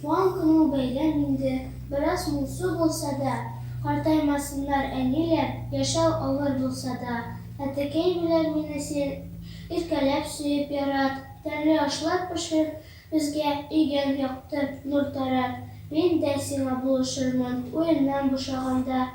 Туган көнең бәйрәм инде, бераз моңсу булса да, Картаймасыннар әниләр, яшәү авыр булса да. Әтекәй белән мине син иркәләп, сөеп ярат, Тәмле ашлар пешер безгә, өйгә якты нур тарат. Мин дә сиңа булышырмын уеннан бушаганда,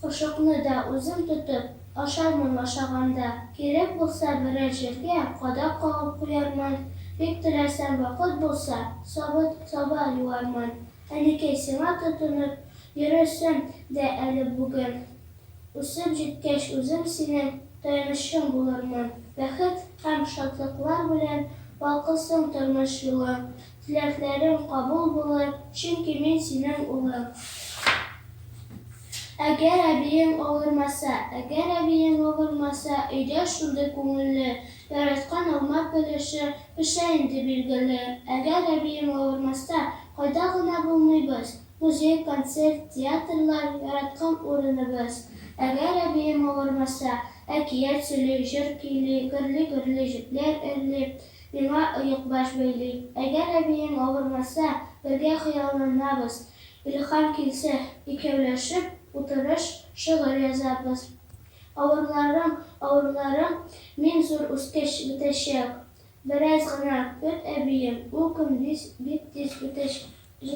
Кошыкны да үзем тотып, Ашармын ашаганда. Кирәк булса берәр җиргә кадак кагып куярмын, бик теләсәм вакыт булса, сабын саба юармын. Әнекәй, сиңа тотынып йөрерсем дә әле бүген. Үсеп җиткәч үзем синең таянычың булырмын. Бәхет һәм шатлыклар белән балкысын тормыш юлың. Теләкләрең кабул булыр, чөнки мин синең улың. Әгәр әбиең авырмаса, Әгәр әбиең авырмаса, Өйдә шундый күңелле, Яраткан алма пелеше Пешә инде билгеле. Әгәр әбиең авырмаса, Кайда гына булмыйбыз, Музей, концерт, театрлар, Яраткан урыныбыз. Әгәр әбиең авырмаса, Әкият сөйли, җыр көйли, Гөрли-гөрли җепләр өрли, Миңа оекбаш бәйли. Әгәр әбиең авырмаса, бергә хыялланабыз. Илһам килсә, икәүләшеп утырыш, шигырь язабыз. Авырларың, авырларың мин зур үскәч бетәчәк. Бераз гына көт, әбием, ул көн бик тиз үтәчәк.